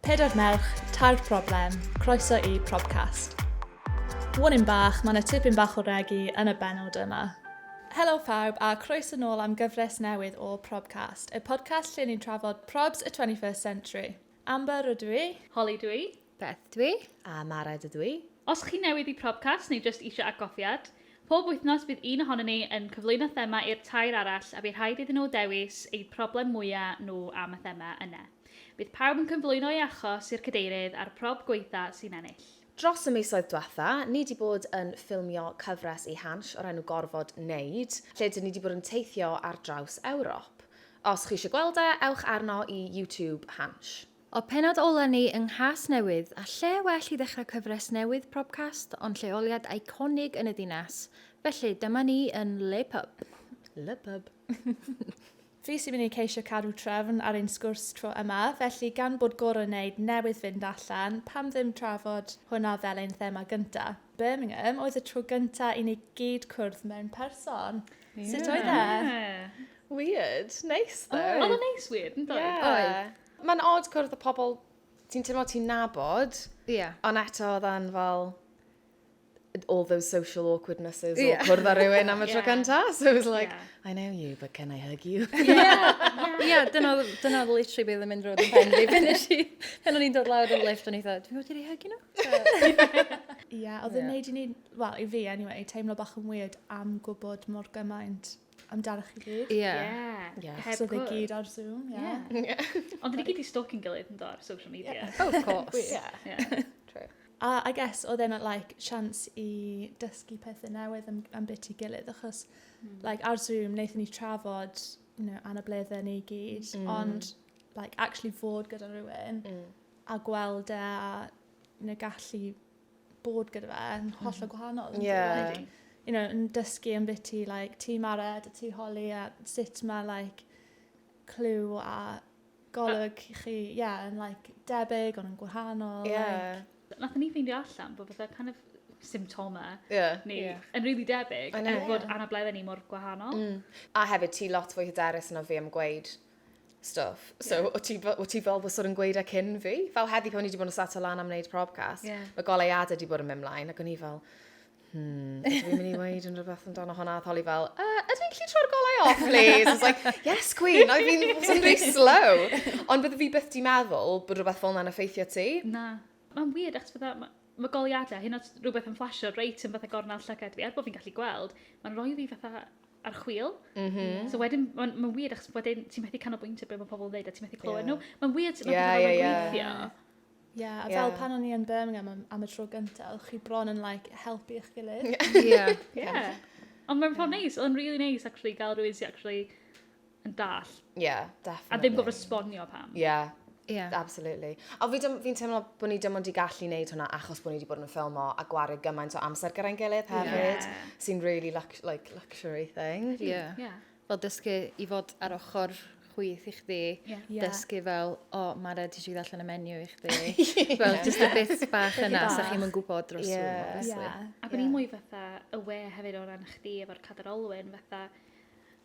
Pedair merch, tair problem, croeso i Probcast. Warning bach, mae yna tipyn bach o regi yn y benod yma. Helo phawb a croeso nôl am gyfres newydd o Probcast, y podcast lle ni'n trafod probs y 21st century. Amber rydw i. Holly dwi. Beth dwi. A Mared ydw i. Os chi newydd i Probcast neu jyst eisiau atgofiad, Pob wythnos bydd un ohonyn ni yn cyflwyno thema i'r tair arall a bu rhaid iddyn nhw dewis eu problem mwya' nhw am y thema yna. Bydd pawb yn cynflwyno ei achos i'r cadeirydd a'r prob gwaetha' sy'n ennill. Dros y misoedd dwetha, ni 'di bod yn ffilmio cyfres i Hansh o'r enw Gorfod Neud, lle dyn ni 'di bod yn teithio ar draws Ewrop. Os chi isio gweld e, ewch arno i YouTube Hansh. O pennod ola ni yng Nghasnewydd, a lle well i ddechrau cyfres newydd Probcast ond lleoliad eiconig yn y dinas. Felly, dyma ni yn Le Pub. Le Pub. Fi sy'n mynd i ceisio cadw trefn ar ein sgwrs tro yma, felly gan bod Goron Neid newydd fynd allan, pam ddim trafod hwnna fel ein thema gynta? Birmingham oedd y tro gynta i ni gyd cwrdd mewn person. Yeah. Sut oedd e? Yeah. Weird. Nice though. Oedd o'n neis weird, yn dod? Oedd. Mae'n odd cwrdd y pobl ti'n teimlo ti'n nabod, yeah. ond eto oedd yn fel all those social awkwardnesses yeah. o cwrdd â rhywun am y tro cynta. So it was like, yeah. I know you, but can I hug you? yeah, yeah. dyna oedd literally beth yn mynd roed yn pen fi. Pen nes i, pen o'n i'n dod lawr yn lift o'n i ddweud, dwi'n gwybod i'r hug nhw? Ie, oedd yn neud i ni, well, i fi anyway, teimlo bach yn weird am gwybod mor gymaint amdanoch chi gyd. Ie. Yeah. Yeah. Heb so gwrs. gyd ar Zoom, ie. Yeah. Yeah. yeah. Ond dyn ni gyd i stalking gilydd yn dod social media. Yeah. Oh, of course. yeah. yeah. True. A I guess, oedd e'n like, chance i dysgu pethau newydd am, am bit i gilydd, achos mm. like, ar Zoom, wnaethon ni trafod you know, anableddau ni gyd, mm. ond like, actually fod gyda rhywun mm. a gweld e a you know, gallu bod gyda fe yn mm. hollol gwahanol. Yeah. You know, yn dysgu yn beth ti, like, ti mared a ti holi a sut mae, like, clyw a golwg i chi, ie, yeah, yn, like, debyg ond yn gwahanol. Yeah. Like. Nath ni ffeindio allan bod fatha kind of symptomau yeah. ni yeah. yn rili really debyg er bod yeah. anableddau ni mor gwahanol. Mm. A hefyd ti lot fwy hyderus yna fi am gweud stuff. So, yeah. o ti, o ti fel bysod yn gweud e cyn fi? Fel heddi pan o'n i wedi bod yn sat o lan am wneud probcast, yeah. mae goleuadau wedi bod yn mynd mlaen, ac o'n i fel, hmm, dwi'n mynd i weid yn rhywbeth amdano hwnna, a tholi fel, uh, ydw i'n gallu troi'r golau off, please? It's like, yes, queen, I've been wasn't very slow. Ond bydde fi byth di meddwl bod rhywbeth fel yna'n effeithio ti. Na. Mae'n weird, achos fydda, Mae goleuadau, hyn oed rhywbeth yn fflasio reit yn fatha gornel llygad fi, er bod fi'n gallu gweld, mae'n rhoi fi fatha ar chwil. Mm -hmm. So wedyn, mae'n ma weird, achos wedyn ti'n methu canolbwyntio beth mae pobl yn dweud a ti'n methu clywed yeah. nhw. Mae'n weird, mae'n yeah, yeah, yeah. gweithio. Ie, yeah, a fel yeah. pan o'n i yn Birmingham am, am y tro gyntaf, oedd chi bron yn like, helpu eich gilydd. Ie. yeah. yeah. Ond mae'n ffordd neis, oedd yn really neis actually gael rhywun sy'n actually yn dall. Yeah, definitely. A ddim gofod sbonio pam. Yeah. Yeah. Absolutely. A fi'n fi teimlo bod ni dim ond i gallu wneud hwnna achos bod ni wedi bod yn ffilmo a gwario gymaint o amser gyda'n gilydd hefyd, yeah. sy'n really lux like, luxury thing. Yeah. yeah. Fel dysgu i fod ar ochr chwith i chdi, yeah. dysgu fel, o, oh, Mara, ti eisiau allan y menu i chdi. yeah. Fel, just a bit bach yna, sa chi'n mynd gwybod dros yeah. yeah. Ac o'n yeah. i mwy fatha aware hefyd o ran chdi efo'r cadarolwyn, fatha,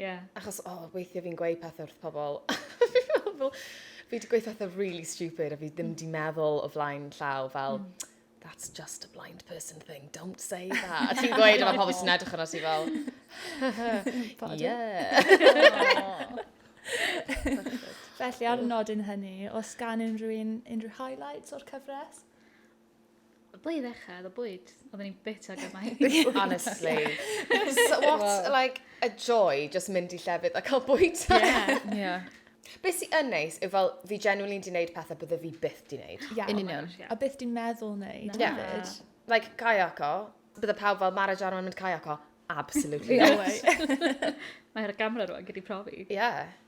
Ie. Achos, o, oh, weithiau fi'n gweud pethau wrth pobl. fi wedi gweud pethau really stupid a fi ddim wedi mm. meddwl o flaen llaw fel, mm. that's just a blind person thing, don't say that. A ti'n gweud, a mae pobl sy'n edrych yna ti fel, yeah. Felly, ar nodyn hynny, os gan unrhyw un, unrhyw highlights o'r cyfres? Ble i ddechrau, oedd y bwyd. Oedden ni'n bita gymaint. Honestly. so what, well. like, a joy, just mynd i llefydd a cael bwyd. yeah, yeah. Be sy'n yn neis yw fel, fi genuinely di wneud pethau bydde fi byth di wneud. Yeah, yn union. A byth di meddwl wneud. No. Yeah. Like, kayako, bydde pawb fel Mara Jarman mynd kayako. Absolutely. no way. Mae'r gamra rwan gyda'i profi. Yeah.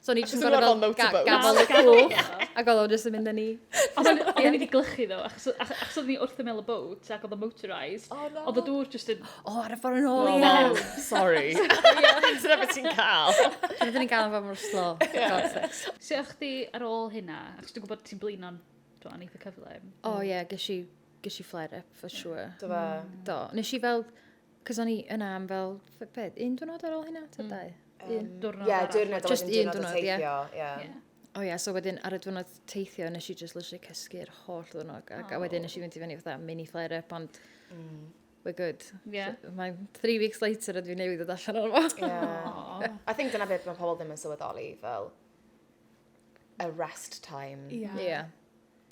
So ni jyst yn gorau fel gafel y cwch, ac oedd o'n jyst yn mynd yn ni. Oedd o'n mynd i glychu ddo, achos oedd ni wrth ymel y boat, ac oedd o'n motorised. Oedd y dŵr jyst yn... O, ar y ffordd yn ôl, ie. Sorry. Dyna beth ti'n cael. Dyna beth ti'n cael yn fawr mor slo. Sut o'ch di ar ôl hynna? Achos dwi'n gwybod ti'n blin o'n dwi'n eitha cyfle. O, ie, gysi flare up, for sure. Do fe? Do. Nes i fel Cos o'n i yna am fel, be, un diwrnod ar ôl hynna, ta mm. dau? Un diwrnod yeah, arall. Diwrnod, just un diwrnod, diwrnod yeah. yeah. yeah. O oh, ia, yeah, so wedyn ar y diwrnod teithio, nes i just literally cysgu'r holl ddwrnod. Ac oh. a wedyn nes i fynd i fyny fatha mini flare up, ond mm. we're good. Yeah. So, mae three weeks later ydw i newid o allan o'n fo. Yeah. I think dyna beth mae pobl ddim yn sylweddoli, fel, a rest time. Ie. Yeah. Yeah.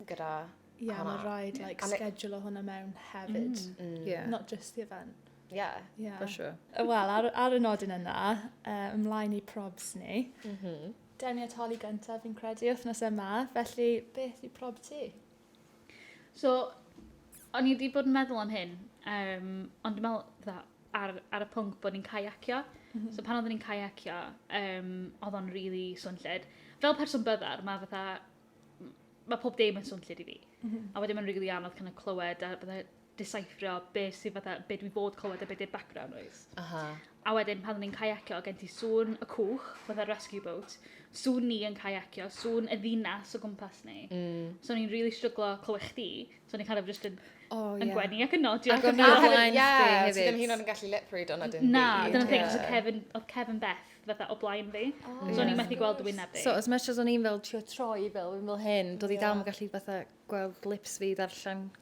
Gyda Ie, yeah, mae rhaid like, yeah. schedule o hwnna mewn hefyd. Mm. Mm. Yeah. Not just the event. Yeah. yeah. For sure. Wel, ar, ar y nodyn yna, uh, ymlaen i probs ni. Mm -hmm. Deniatoli gyntaf, fi'n credu, wythnos yma. Felly, beth i prob ti? So, o'n i wedi bod yn meddwl am hyn, um, ond dwi'n meddwl, dda, ar, ar y pwnc bod ni'n caiacio. Mm -hmm. So pan oeddwn ni'n caiacio, um, oedd o'n really swnllid. Fel person byddar, mae fatha, mae pob dim yn swnllid i fi. Mm -hmm. A wedyn mae'n really anodd kind of clywed a bydde desiffrio be sydd fatha, be dwi fod clywed a be di'r background noise. Aha. A wedyn pan o'n i'n kayacio, gen ti sŵn y cwch, fatha rescue boat, sŵn ni yn kayacio, sŵn y ddinas o gwmpas ni. Mm. So o'n i'n really stryglo clywed chdi, so o'n i'n kind of just yn oh, yeah. yn gwenu ac yn nodi. Ac o'n i'n blaen chdi hefyd. Ti ddim hyn o'n gallu lip read o'n adyn Na, dyna'n thing, so Kevin, oedd Kevin Beth fatha o blaen fi. Oh, so o'n i'n methu gweld wyneb fi. So as much as o'n i'n fel trio troi fel, fel hyn, doedd i dal yn gallu fatha gweld lips fi ddarllen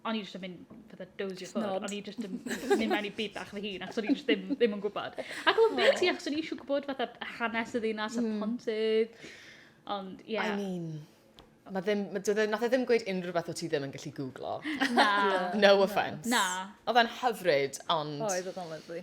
o'n i jyst yn mynd fatha dozio ffwrdd. O'n i jyst yn mynd mewn i byd bach fy hun, ac o'n i jyst ddim, ddim yn gwybod. Ac o'n beth ti, ac o'n i eisiau gwybod fatha hanes y ddinas a mm. pontydd. Ond, ie. Yeah. I mean, Mae ddim, ma, dwi, e, nath e ddim gweud unrhyw beth o ti ddim yn gallu googlo. Na. no offence. Na. Oedd e'n hyfryd, ond... Oedd, oedd o'n lyflu.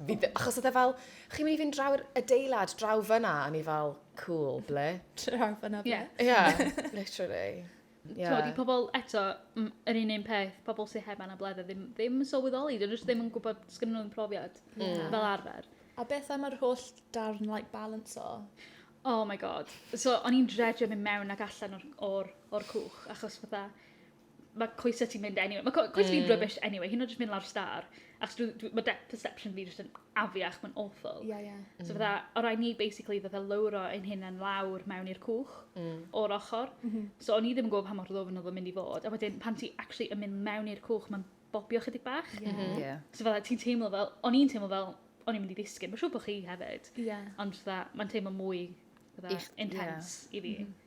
Fi ddim, achos oedd e fel, chi'n mynd i fynd draw'r adeilad, draw fyna, a ni fel, cool, ble? Draw fyna, ble? Ie, yeah, literally. Yeah. Tod, i pobl eto, yr un un peth, pobl sy'n heb anabledda ddim, ddim yn sylweddoli, dyn nhw ddim yn gwybod sgyn nhw'n profiad yeah. fel arfer. A beth am yr holl darn like balance o? Oh my god. So, o'n i'n dredrio mynd mewn ac allan o'r, or, or cwch, achos fatha, mae coesau ti'n mynd anyway. Mae coesau mm. fi'n rubbish anyway, hyn o jyst mynd lawr star. Ac dwi, dwi, mae depth perception fi jyst yn afiach, mae'n awful. Yeah, yeah. Mm. So fydda, o rai ni basically fydda lowro ein hyn yn lawr mewn i'r cwch mm. o'r ochr. Mm -hmm. So o'n i ddim yn gwybod pa mor ddofn oedd yn mynd i fod. A wedyn pan ti actually yn mynd mewn i'r cwch, mae'n bobio chydig bach. Yeah. Mm -hmm. yeah. So fydda ti'n teimlo fel, o'n i'n teimlo fel, o'n i'n mynd i ddisgyn. Mae'n siŵr bod chi hefyd. Yeah. Ond fydda, mae'n teimlo mwy fydda, intense yeah. i fi. Mm -hmm.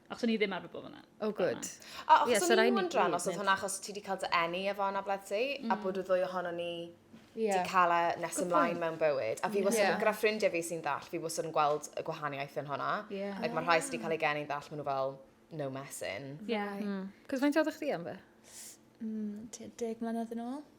Achos o'n i ddim arfer bod fyna. Oh, good. A achos yeah, so o'n i'n wondran os oedd hwnna achos ti wedi cael dy enni efo hwnna, bled ti, mm. a bod y ddwy ohono ni yeah. di cael e nes ymlaen mewn bywyd. A fi wastad, yeah. gyda ffrindiau fi sy'n ddall, fi wastad yn gweld y gwahaniaeth yn hwnna. Yeah. Like, mae rhai sydd wedi cael ei geni'n ddall, maen nhw fel, no messing. Yeah. Mm. Cos faint oedd chdi am fe? Mm, deg mlynedd yn ôl.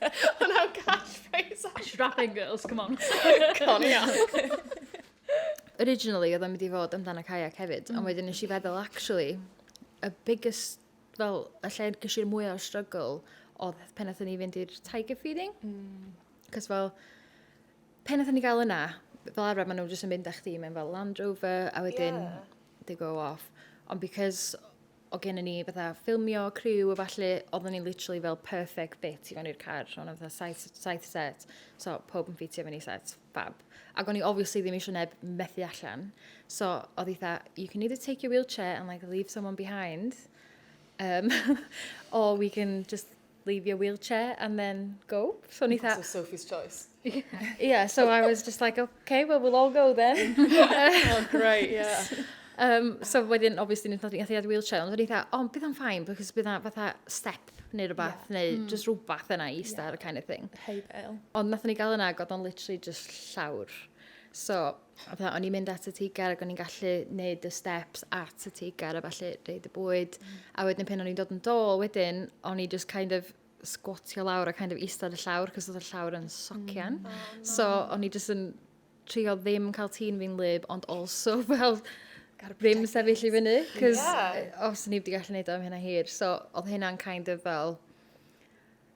O na, catchphrase. Strapping girls, come on. Con ia. Originally, oedd o'n mynd i fod amdano kayak hefyd, mm. ond wedyn nes i feddwl, actually, y biggest, fel, y lle gys i'r mwy o'r struggle oedd pen atho ni fynd i'r tiger feeding. Mm. Cos fel, pen atho ni gael yna, fel arfer maen nhw jyst yn mynd â chdi mewn fel Land Rover, a wedyn yeah. they go off. Ond because o gennym ni fatha ffilmio, criw a falle, oeddwn ni'n literally fel perfect fit i fewn i'r car. O'n i'n fatha saith, saith set, so pob yn ffitio fewn i set, fab. Ac o'n i obviously ddim eisiau neb methu allan. So oedd i fatha, you can either take your wheelchair and like leave someone behind, um, or we can just leave your wheelchair and then go. So o'n i tha... Sophie's choice. yeah, so I was just like, okay, well, we'll all go then. oh, great, yeah. Um, so wedyn, obviously, nes nod i'n gallu wheelchair, ond o'n i dda, ond bydd o'n ffain, because bydd o'n fatha step neu rhywbeth, yeah. neu mm. just rhywbeth yna i star, yeah. kind of thing. Hey, bail. Ond nath ni gael yna, god o'n literally just llawr. So, a fatha o'n i'n mynd at y teigar ac o'n i'n gallu neud y steps at y teigar a falle reid y bwyd. Mm. A wedyn y pen o'n i'n dod yn dôl wedyn, o'n i just kind of sgwatio lawr a kind of eistedd y llawr, cos oedd y llawr yn socian. Mm. Oh, no. So o'n i just yn trio ddim cael tîn fi'n lyb, ond also fel ddim sefyll i fyny, cos yeah. os ni wedi gallu neud o am hynna hir. So oedd hynna'n kind of fel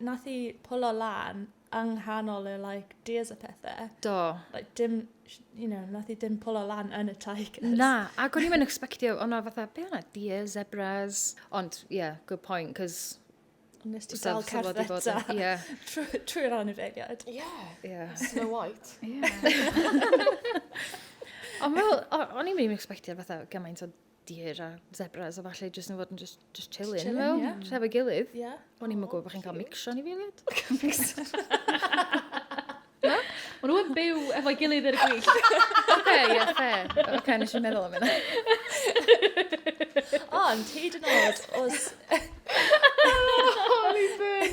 nath i pwlo lan yng nghanol y like dias a pethe. Do. Like dim, you know, nath i dim pwlo lan yn y tigers. Na, ac o'n i'n mynd expectio, o'n o fatha, be o'na dias, zebras. Ond, yeah, good point, cos... Nes ti dal cerdded ta. Yeah. Trwy'r anifeiliad. Yeah. yeah. Snow White. Yeah. Ond fel, o'n i'n mynd i'n expectio fatha gymaint o deer a zebras a falle jyst yn fod yn just, just chilling, chilling fel, yeah. tref y gilydd. Yeah. O'n i'n oh, gwybod bod chi'n cael mixo ni filiad. Na? O'n nhw'n byw efo gilydd ar y gwyll. Oce, ie, fe. Oce, nes i'n meddwl am yna. Ond, hyd yn oed, os... Holy burn!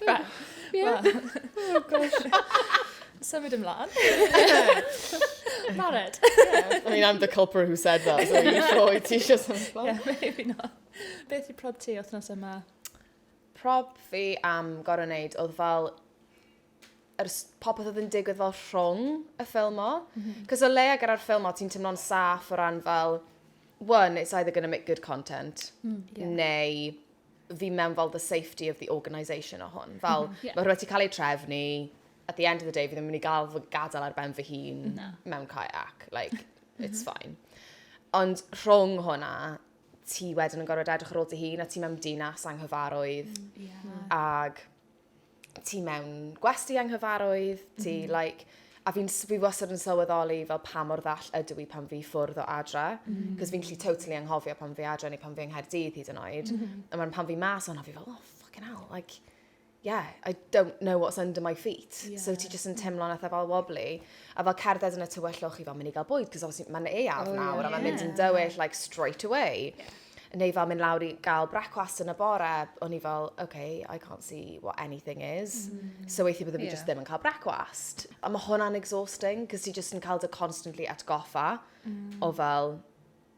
Be? Ie. Wel. O gosh. Symud ymlaen. Mared. Yeah. I mean, I'm the culprit who said that, so you sure i ti eisiau symud ymlaen? Yeah, maybe not. Beth i prob ti othnos yma? Prob fi am gorau wneud oedd fel yr popeth oedd yn digwydd fel rhwng y ffilm o. Mm -hmm. Cos o leia gyda'r ffilm o, ti'n tymlo'n saff o ran fel, one, it's either going to make good content, mm, yeah. neu fi mewn fel the safety of the organisation o hwn. Fel, mm, yeah. mae rhywbeth ti'n cael ei trefnu, at the end of the day, fi ddim yn mynd i gael fy gadael ar ben fy hun no. mewn kayak. Like, mhm. it's fine. Ond rhwng hwnna, ti wedyn yn gorfod edrych ar ôl dy hun, a ti mewn dinas anghyfarwydd. Mm, yeah. Ag ti mewn gwesti anghyfarwydd, ti mm. like, a fi'n fi wastad yn sylweddoli fel pa mor ddall ydw i pan fi ffwrdd o adra, mm. Mm-hmm. cos fi'n lli totally anghofio pan fi adra neu pan fi yng Nghaerdydd hyd yn oed, mm -hmm. a pan fi mas o'n fi fel, oh fucking hell, like, yeah, I don't know what's under my feet. Yeah. So ti jyst yn teimlo'n eitha fel wobbly. A fel cerdded yn y tywyllwch i fel mynd i gael bwyd, cos obviously mae'n ei af oh, nawr, yeah. a mae'n mynd yn dywyll, like, straight away. Yeah. neu fel mynd lawr i gael brecwast yn y bore, o'n i fel, okay, I can't see what anything is. Mm. So weithio byddwn yeah. fi just ddim yn cael brecwast. A mae hwnna'n exhausting, cos ti just yn cael dy constantly atgoffa mm. o fel,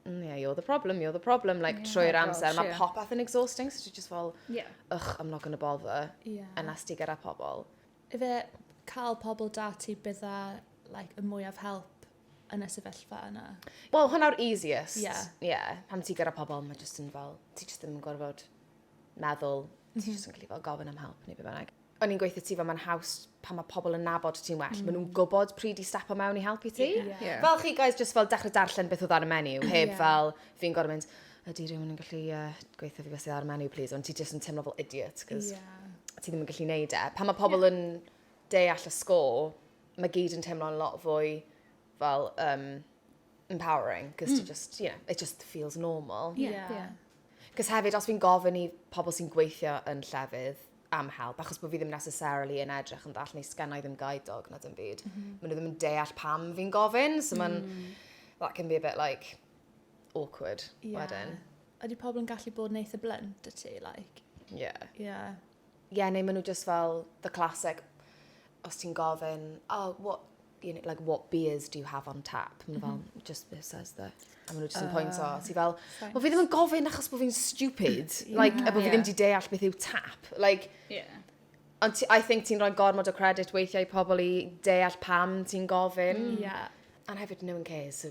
mm, yeah, you're the problem, you're the problem, like, yeah, trwy'r amser. Mae yeah. popeth yn exhausting, so ti just fel, yeah. ych, I'm not gonna bother, yeah. unless ti gyda pobl. Ife cael pobl da ti bydda, like, y mwyaf help yn y sefyllfa yna. Wel, hwnna'r easiest. Ie. Yeah. Yeah. Pan ti gyda pobl, mae jyst yn fel, ti jyst yn gorfod meddwl, mm -hmm. ti mhm. jyst yn gallu fel gofyn am help neu beth bynnag. O'n i'n gweithio ti fel mae'n haws pan mae pobl yn nabod ti'n well. Mm. Maen nhw'n gwybod pryd i stepo mewn i helpu ti. Yeah. Yeah. Yeah. Fel chi guys, jyst fel dechrau darllen beth oedd ar y menu, heb yeah. fel fi'n gorfod mynd, ydy rhywun yn gallu uh, gweithio fi beth sydd ar y menu, please, ond ti jyst yn teimlo fel idiot, cos yeah. ti ddim yn gallu neud e. Pan mae pobl yeah. yn deall y sgôl, ma' gyd yn teimlo'n lot fwy fel yym empowering 'c'os ti jyst ie it jyst feels normal. Ie. Ie. 'C'os hefyd os fi'n gofyn i pobol sy'n gweithio yn llefydd am help achos bo' fi ddim necessarily yn edrych yn ddall neu sgennai ddim guide dog na dim byd. M-hm. Ma' n'w ddim yn deall pam fi'n gofyn so ma'n... Hmm. ...that can be a bit like awkward wedyn. Ie. Ydi pobol yn gallu bod yn eitha blunt 'da ti like? Ie. Ie. Ie neu ma' n'w jyst fel the classic os ti'n gofyn oh what you kn- like what beers do you have on tap? Ma' n'w fel just this says the a ma' n'w jyst yn pointio a ti fel wel fi ddim yn gofyn achos bo' fi'n stupid like a bo' fi ddim 'di deall beth yw tap like Ie. ond ti I think ti'n rhoi gormod o credit weithiau i pobol i deall pam ti'n gofyn. Ie. A hefyd no one cares so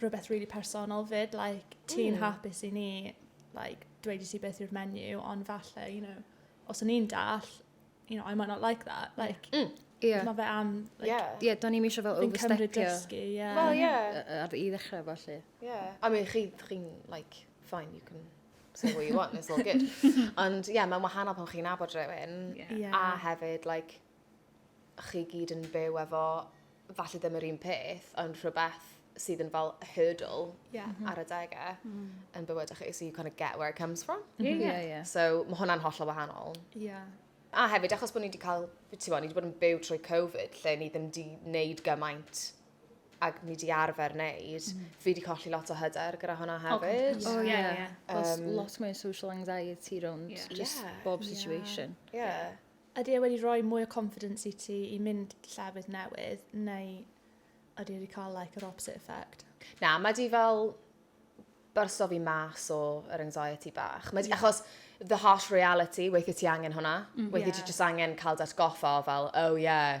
rhywbeth really personol fyd, like, ti'n mm. hapus i ni, like, dweud i ti beth yw'r menu, ond falle, you know, os o'n i'n dall, you know, I might not like that, like, mm. Yeah. Mae fe am... Like, yeah. yeah, do'n i'n eisiau fel overstepio. Fi'n cymryd dysgu, yeah. Well, yeah. Ar i ddechrau falle. Yeah. I mean, chi'n, chi, like, fine, you can say what you want, it's all good. Ond, yeah, mae'n wahanol pan chi'n abod rhywun. Yeah. yeah. A hefyd, like, chi gyd yn byw efo, falle ddim yr un peth, ond rhywbeth sydd yn fel a hurdle yeah. mm -hmm. ar adegau mm. yn bywydau chi, so you kind of get where it comes from. Mm-hmm. Yeah, yeah. yeah, yeah. So mae hwnna'n hollol wahanol. Yeah. A hefyd, achos bod ni wedi cael, ti'n ni wedi bod yn byw trwy Covid, lle ni ddim wedi wneud gymaint ac ni wedi arfer wneud, mm. fi wedi colli lot o hyder gyda hwnna oh, hefyd. Oh, oh yeah, yeah. Um, lot mwy social anxiety rownd yeah. just yeah. bob situation. Yeah. yeah. Ydy e wedi rhoi mwy o confidence i ti i mynd llefydd newydd, neu ydy e wedi cael like, yr opposite effect? Na, mae di fel byrso fi mas o yr anxiety bach. Mae di, yeah. achos the harsh reality, weithio ti angen hwnna. Mm, weithio yeah. ti just angen cael dat goffa o fel, oh yeah,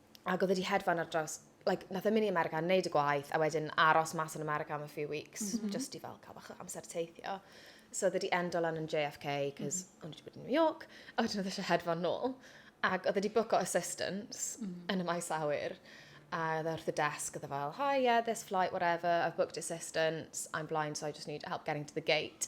ac oedd e wedi hedfan ar draws, like, nath e mynd i America, neud y gwaith, a wedyn aros mas yn America am a few weeks, mm -hmm. just i fel cael bach o amser teithio. So oedd e wedi endo lan yn JFK, cos mm -hmm. o'n wedi bod yn New York, a wedyn oedd e eisiau hedfan nôl. Ac oedd e wedi bwco assistance mm -hmm. yn y maes awyr, a oedd e wrth y desk, oedd e fel, hi, yeah, this flight, whatever, I've booked assistance, I'm blind, so I just need help getting to the gate.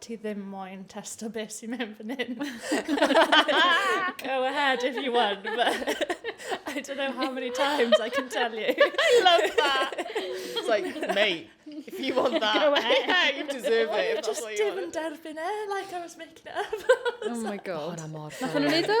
ti ddim moyn testo beth sy'n mynd fan hyn. Go ahead if you want, but I don't know how many times I can tell you. I love that. It's like, mate, if you want that, Go ahead. yeah, you deserve it. If just dim yn derbyn e, like I was making it up. oh my god. Hwna mor Nath nhw'n neud o?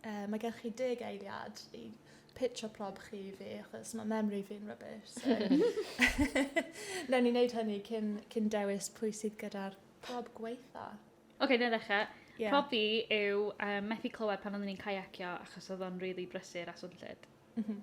Yy mae gennych chi deg eiliad i pitsio prob chi i fi achos mae memory fi'n rubbish. So. Newn ni wneud hynny cyn, cyn dewis pwy sydd gyda'r prob gweitha. Oce, okay, na ddechrau. Yeah. Prob fi yw um, methu clywed pan oeddwn i'n caiacio achos oedd o'n rili really brysur a swnllyd. Mm -hmm.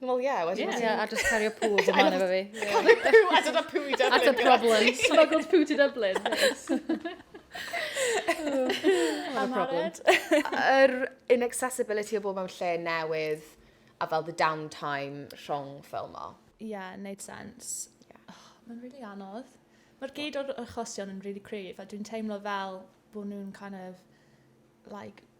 Wel, ie, wedyn... Ie, a just cario pŵ o man efo fi. Cario pŵ, a dyna pŵ i Dublin. At y problem. Smuggled pŵ to Dublin. What a problem. Yr inaccessibility o bob mewn lle newydd a fel the downtime rhwng ffilm o. Ie, yeah, neud sens. Yeah. Oh, Mae'n really anodd. Mae'r gyd o'r achosion yn really cryf a dwi'n teimlo fel bod nhw'n kind of like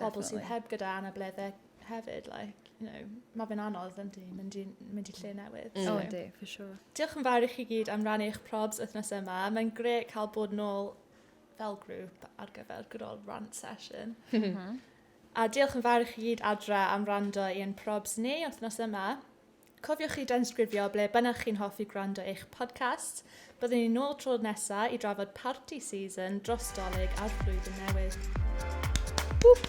pobol sydd heb gyda anabledde hefyd like you know ma' fe'n anodd yndi mynd i mynd i lle newydd. Mm. So. O yndi, for sure. Diolch yn fawr i chi gyd am rannu eich probs wythnos yma. Mae'n gret cael bod nôl fel grŵp ar gyfer good old rant session. Mhm. A diolch yn fawr i chi gyd adra am rando i ein probs ni wythnos yma. Cofiwch i danysgrifio ble bynnag chi'n hoffi gwrando eich podcast. Byddwn ni'n ôl tro'r nesa i drafod party season dros dolyg a'r flwyddyn newydd. Whoop.